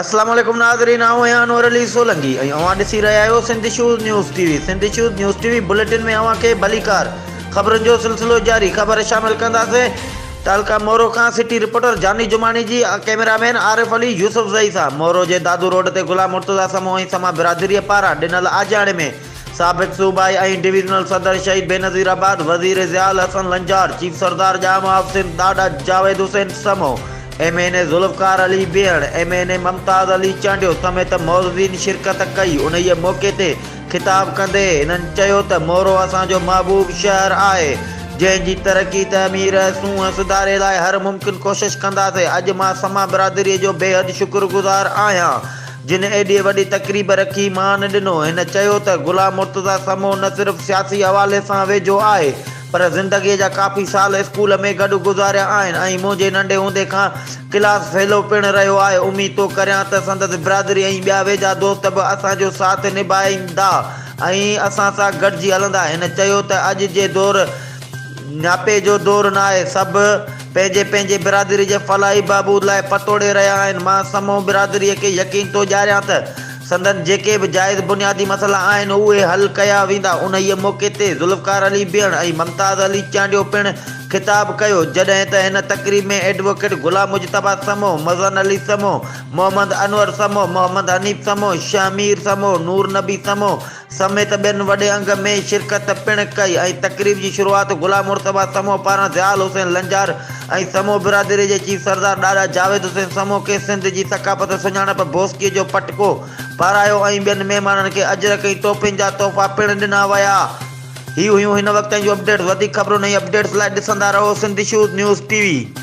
السلام عليڪم ناظرين آئون آهيان انور علي سولنگي ۽ اوهان ڏسي رهيا آهيو Sindh issues news T V Sindh issues news T V bulletin ۾ اوهان کي ڀليڪار خبرن جو سلسلو جاري خبر شامل ڪنداسين تعلقه مورو کان سٽي رپورٽر جاني جماڻي جي camera man Arif Ali Yousafzai سان مورو جي دادو روڊ تي غلام مرتضيٰ سمون ۽ سما برادري پاران ڏنل آجياڻي ۾ سابق صوبائي ۽ ڊويزنل صدر شهيد بينظير آباد، وزير ضياء الحسن لنجار، چيف سردار ڄام آف سنڌ ڏاڏا Javed Hussain Samo, M N A Zulfiqar Ali Behar, M N A Mumtaz Ali Chandio سميت معززين شرڪت ڪئي، انهيء موقعي تي خطاب ڪندي هنن چيو ته مورو اسان جو محبوب شهر آهي، جنهن جي ترقي، تعمير ۽ سونهن سڌاري لاء هر ممڪن ڪوشش ڪنداسين، اڄ مان سما برادري جو بيحد شڪرگذار آهيان. جن ايڏي وڏي تقريب رکي مان ڏنو. هن چيو ته غلام مرتضيٰ سمون نه صرف سياسي حوالي سان ويجهو آهي پر زندگيء جا ڪافي سال اسڪول ۾ گڏ گذاريا آهن ۽ منهنجي ننڍي هوندي کان ڪلاس فيلو پڻ رهيو آهي اميد ٿو ڪريان ته سندس برادري ۽ ٻيا ويجها دوست به اسان جو ساٿ نڀائيندا ۽ اسان سان گڏجي هلندا هن چيو ته اڄ جي دور نياپي جو دور ناهي سڀ پنهنجي پنهنجي برادري جي فلاحي بهبود لاء پتوڙي رهيا آهن، مان سمون برادريء کي يقين ٿو ڏياريان ته سندن جيڪي به جائز بنيادي مسئلا آهن اهي حل ڪيا ويندا، انهيء موقعي تي ذوالفقار علي بيڻ ۽ ممتاز علي چانڊيو پڻ خطاب ڪيو، جڏهن ته هن تقريب ۾ ايڊووڪيٽ غلام مجتبيٰ سمون، مزن علي سمون، محمد انور سمون، محمد حنيف سمون، شهه مير سمون، نور نبي سمون، سميت ٻين وڏي انگ ۾ شرڪت پڻ ڪئي ۽ تقريب جي شروعات غلام مرتضيٰ سمون پاران ضياءل حسين لنجار ۽ سمون برادري جي چيف سردار ڏاڏا جاويد حسين سمون کي سنڌ جي ثقافت سڃاڻپ بوسڪي جو پٽڪو پارايو ۽ ٻين مهمانن کي اجرڪ ۽ ٽوپين جا تحفا پڻ ڏنا ويا. هي هيون هن وقت تائين جون اپڊيٽس وڌيڪ خبرون ۽ اپڊيٽس لاء ڏسندا رهو Sindh shows news T V.